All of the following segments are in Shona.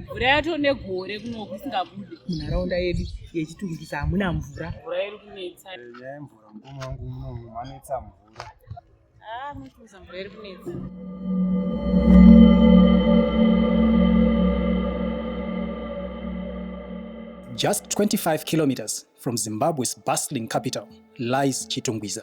mvura yato negore kunoku isingabude munharaunda yedu yechitungisa hamuna mvura mvura iri kunetsa eh, nyaya yemvura mukoma wangu munomu manetsa mvura ah, mutuza mvura iri kunetsa Just 25 kilometers from Zimbabwe's bustling capital lies Chitungwiza.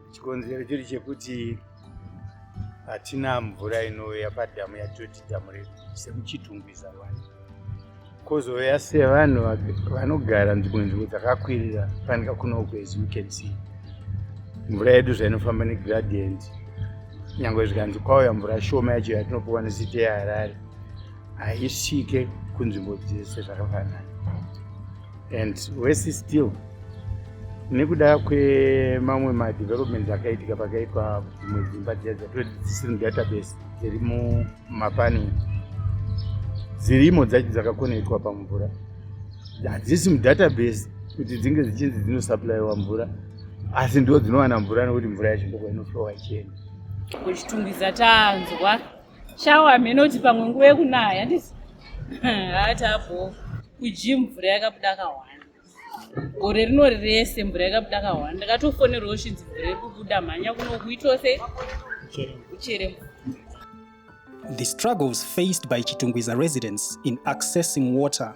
Chikonzero chiri chekuti hatina mvura inouya padhamu yatoti dhamu redu semuchitungwiza wani kozouya sevanhu vanogara nzvimbo nzvimbo dzakakwirira fanika kunoko as you can see mvura yedu zvainofamba negradient nyange zvikanzi kwauya mvura shoma yacho yatinopiwa nesite yeharare haisvike kunzvimbo dzese zvakafanana and wese still nekuda kwemamwe madevelopment akaitika pakaitwa dzimwe dzimba dziya dzatoti dzisiri mudatabase dziri mumapani dzirimo dzacho dzakakonekitwa pamvura hadzisi mudatabase kuti dzinge dzichinzi dzinosuplyiwa mvura asi ndo dzinowana mvura nekuti mvura yacho ndokwainoflowa ichienda kuchitungwiza tanzwa Shawa hameno kuti pamwe nguva yekunaya handisi? Haa tabho. Kujim mvura yakabuda kahwani. Gore rino rese mvura yakabuda kahwani. Ndakatofonerwawo shinzi mvura iri kubuda mhanya kuno kuitwa sei? Uchere mvura. The struggles faced by Chitungwiza residents in accessing water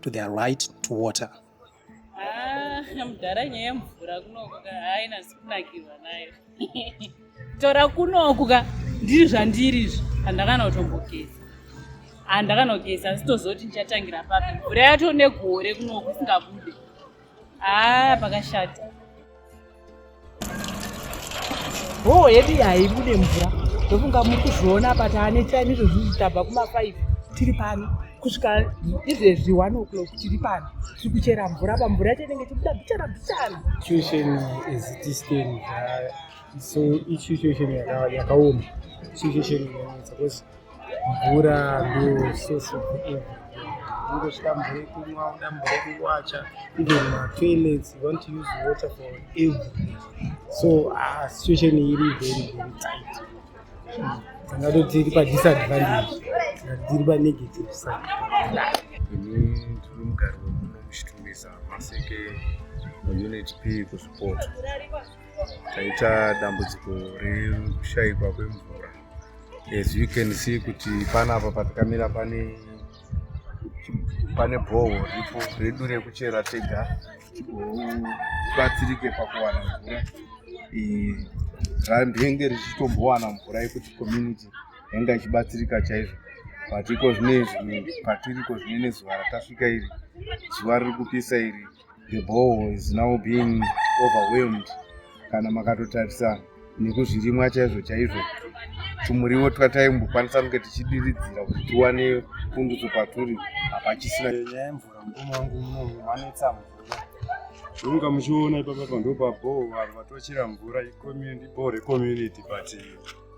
to their right to water. Ah, mudhara nyaya yemvura kunoku ka haina zikunakirwa nayo tora kunoku ka ndiri zvandiri izvi handakana kutombogeza handakanogeza asi tozoti ndichatangira papi mvura yato negore kunoku isingabude Ah, pakashata. Bhoo yedu haibude mvura ndofunga muri kuzviona apa taane time izvozvi tabva kuma5 tiri pano kusvika izvezvi one o'clock tiri pano tiri kuchera mvura apa mvura yacho inenge tibuda bichana bichana situation is distant uh, so ichituation yakaoma situation yanetsa because mvura ndosource of everything ungosvika mvura yekumwa uda mvura yekuwacha even matoilets you want to use water for everything so uh, situation iri very very tight tingatoti iri padisadvantage tikati tiri panegative side ini tiri mugari wemuno muchitumisa maseke muunit p kusupoto taita dambudziko rekushaikwa kwemvura As you can see kuti panapa patikamira pane pane bhohwo ripo redu rekuchera tega tibatsirike pakuwana mvura randenge richitombowana mvura yekuti community yanga ichibatsirika chaizvo but iko zvino izvi patiriko zvine nezuva ratasvika iri zuva riri kupisa iri the ball is now being overwhelmed kana makatotarisa nekuzvirimwa chaizvo chaizvo tumuriwo twataimbokwanisa kunge tichidiridzira kuti tiwane pundutso paturi hapachisina nyaya yemvura mukoma wangu unomu vanetsa mvura zvomuka muchiona ipapa pando pabhoo vanhu vatochera mvura icommunity bhoo recommunity but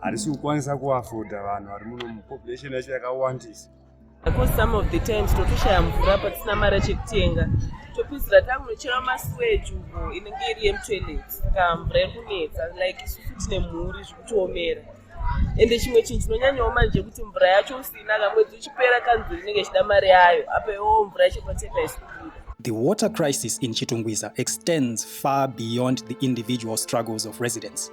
harisi kukwanisa kuafoda vanhu vari muno mupopulation yacho yakawandisa Because some of the times totoshaya mvura patisina mari chekutenga topedzera takunochera masuweji uko inenge iri yemutoilet saka mvura iri kunetsa like isusu tine mhuri zvikutoomera ende chimwe chinhu chinonyanyawo manje kuti mvura yacho usina kamwedzi uchipera kanzuri inenge ichida mari yayo apa iwowo mvura yacho patepa isikubuda The water crisis in Chitungwiza extends far beyond the individual struggles of residents.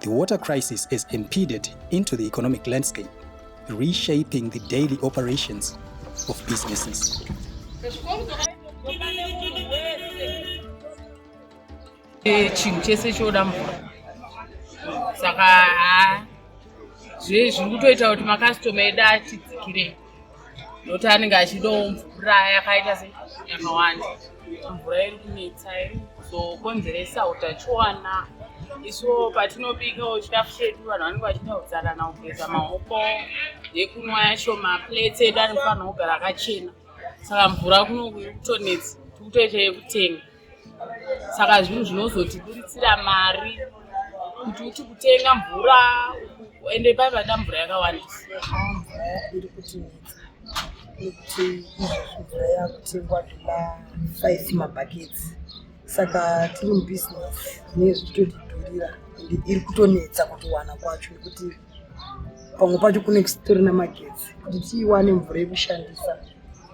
The water crisis has impeded into the economic landscape, reshaping the daily operations of businesses. chinhu chese choda mvura saka zve zviri kutoita kuti makastoma edu atidzikirei nokuti anenge achidawo mvura yakaita se yakawanda mvura iri kunetsa iri kuzokonzeresa utachiwana isu patinobikawo chikafu chedu vanhu vanenge vachida kudzarana kugeza maoko nekunwa yacho maplates edu anofanira kugara akachena saka mvura kunokutonetsa tikutoita yekutenga saka zvinhu zvinozotiburitsira mari kuti uti kutenga mvura ende pai vada mvura yakawandisa iri kuti kuti mvura yakutengwa tuma five mabhaketsi saka tiri mubusiness zvinee zvichitotidhurira ende iri kutonetsa kutowana kwacho nekuti pamwe pacho kune kusitorina magetsi kuti tiiwane mvura yekushandisa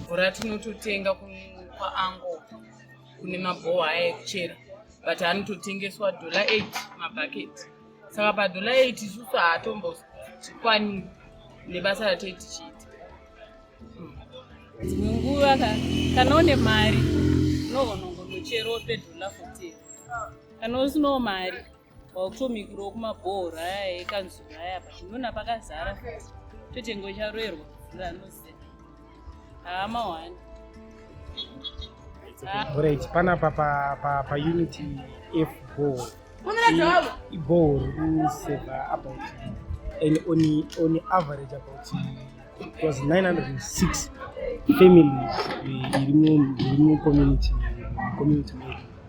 mvura tinototenga kwaango kune mabhowa aya ekuchera but anototengeswa dollar 8 mabhaketi saka padollar 8 isusu haatombotikwani nebasa ratei tichiita hmm. dzimwe nguva kana une mari unogonongonocherope dollar 14 kana usinawo mari wakutomikirawo kumabhohoro aya ekanzuru aya apa ndinoona pakazara totengo charoerwa mvura anoziva haa mahwani right panapa paunit f ball iball rikuseva about and on, on average about it was 906 families iri mu community community medu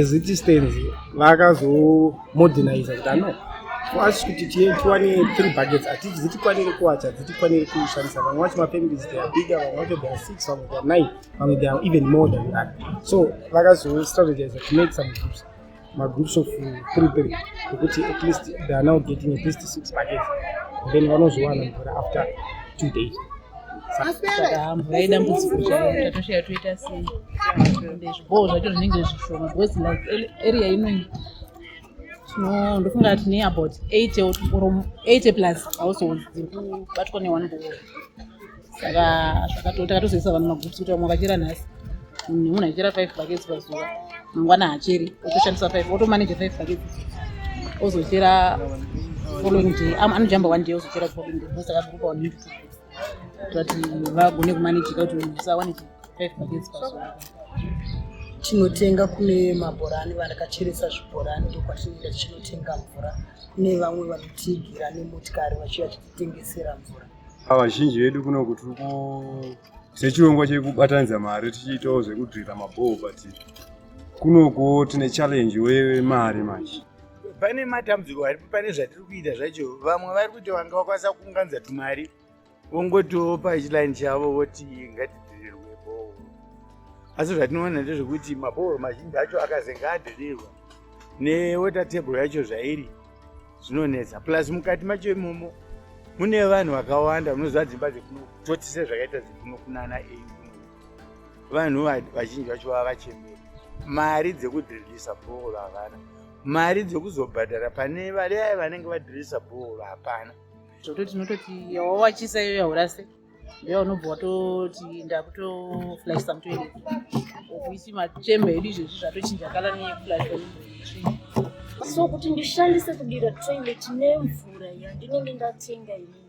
as it stands vakazomoderniza kuti ano asi kuti tiwane three buckets hatiti dzitikwanire kuwacha dzitikwanire kushandisa vamwe vacho mafamilies they are bigger vamwe vacho they are six vamwe they are nine vamwe they are even more than that so vakazostrategize to make some groups magroups of three three ekuti at least they are now getting at least six buckets then vanozowana mvura after two days saka mvura yedambudziko chaiyo tatoshaya toita sei ende zvibowo zvacho zvinenge zvishoma because like area inoi no ndofunga kuti ne about eight or eight plus households dziri kubatwa ne one bowo saka zvakatakatozoisa vanhu magroups kuti vamwe vachera nhasi nemunhu achichera five buckets pazuva mangwana hacheri otoshandisa five otomanage five buckets ozochera following day anojamba one day ozochera following day osaka group one kuti vagone kumanejika kuti usawane five pages pazuva tinotenga kune mabhorani vanakacheresa zvibhorani ndokwatinoenda tichinotenga mvura kune vamwe vanotigira nemotikari vachiva chititengesera mvura vazhinji vedu kuno kuti sechirongwa chekubatanidza mari tichiitawo zvekudrira mabhoo but kunokuwo tine challenge wemari manje pane matambudziko aripo pane zvatiri kuita zvacho vamwe vari kuti vanga vakwanisa kuunganidza tumari vongotiwo pachiline chavo voti ngatidhirirwe bhohoro asi zvatinoona ndezvekuti mabhohoro mazhinji acho akazenge adhirirwa newater table yacho zvairi zvinonetsa plus mukati macho imomo mune vanhu vakawanda munoziva dzimba dzekuno toti sezvakaita dzekuno kunana ei vanhu vazhinji vacho vava vachembera mari dzekudhiririsa bhohoro havana mari dzekuzobhadhara pane valeaye vanenge vadhiririsa bhohoro hapana zvototi tinototi yawawachisa iyo yaurase ndeya unobva watoti ndakutoflashisa mutoere okuisi machembe edu izvezvi zvatochinja kala neyeflasha so kuti ndishandise kudira toilet nemvura yandinenge ndatenga ini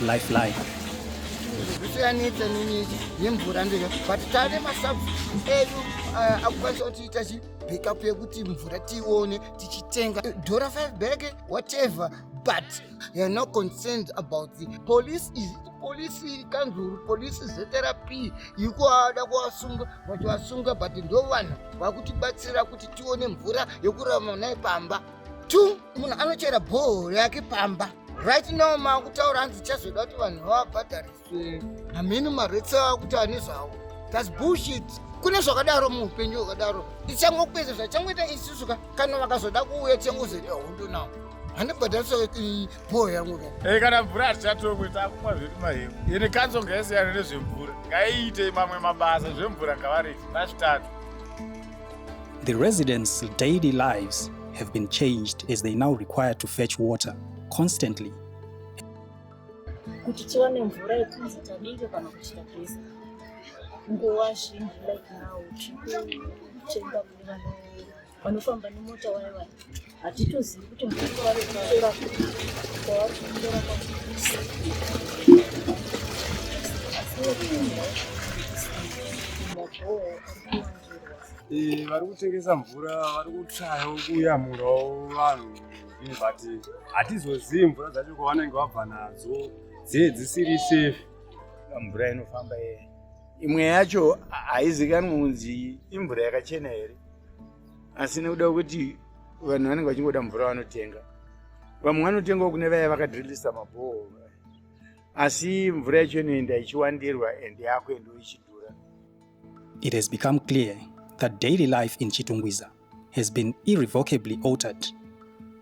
life life zvisiyanitse nini nemvura ndega but tane masub edu eh, akukwanisa kuti ita chi backup yekuti mvura tione tichitenga dora 5 bag whatever but you're not concerned about the police is polisi kanzuru polisi zrp yikuada kuvasunga vachivasunga but ndo vanhu vakutibatsira kuti tione mvura yekurama naye pamba two munhu anochera bhoo yake pamba right now maakutaura hanzi chazoda kuti vanhu vavabhadhariswe hamheni maretsi ava kuti ane zvavo thats bullshit kune zvakadaro muupenyu hwakadaro tichangokupedza zvachangoita isusu ka kana vakazoda kuuya tichangozere hondo nawo handibhadharisa bhoo yangu ka e kana mvura hatichatomwe takumwa zvedu mahemu ini kanzo ngaisiyana nezvemvura ngaiitei mamwe mabasa zvemvura ngavarei vazvitatu The residents' daily lives have been changed as they now require to fetch water constantly. Kuti tiwane mvura yekunzi tabike kana kuchita geza. Nguva zhinji like now, tiri kutenga kune vanofamba nemota waye waye. hatitozivi kuti murume wave kutora kwavari kutora kwakisi Eh, vari kutengesa mvura vari kutsvayawo kuyamurawo vanhu but hatizozivi mvura dzacho kwavanenge vabva nadzo dzee dzisiri safe mvura inofamba imwe yacho haizikanwi kunzi imvura yakachena here asi nekuda kwekuti vanhu vanenge vachingoda mvura vanotenga vamwe vanotengawo kune vaya vakadrillisa mabhoo asi mvura yacho inoenda ichiwandirwa and yakuendawo ichidhura it has become clear that daily life in chitungwiza has been irrevocably altered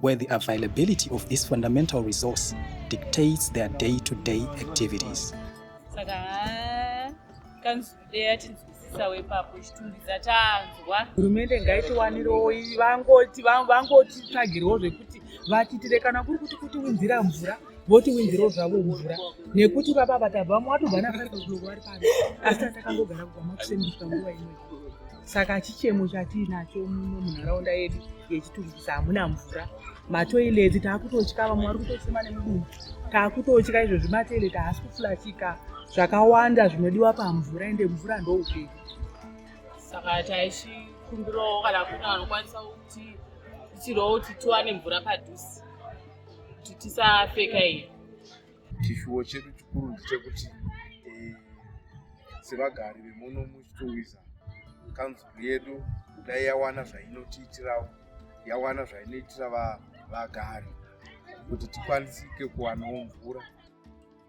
where the availability of this fundamental resource dictates their day-to-day -day activities. hurumende ngaitiwanirewo vangoti vangotitsvagirwo zvekuti vatiitire kana kuri kuti kuti winzira mvura votiwinzirawo zvavo mvura nekuti baba vatavamo watobva naari pano asi atakangogara kubva makusendiswa nguva imwe saka chichemo chatiinacho muno munharaunda yedu yechitungisa hamuna mvura matoileti taakutotya vamwe vari kutosema nemudumbu taakutotya izvozvi matoileti haasi kufulachika zvakawanda zvinodiwa pamvura ende mvura ndoupenyu saka taichikumbirawo kana kune vanokwanisa kuti ichirawo kuti tiwane mvura padhuze kuti tisapfeka iyi Chishuwo chedu chikuru ndechekuti eh, sevagari vemuno muchitungwiza kanzuru yedu kudai yawana zvainotiitirawo yawana zvainoitira vagari kuti tikwanisike kuwanawo mvura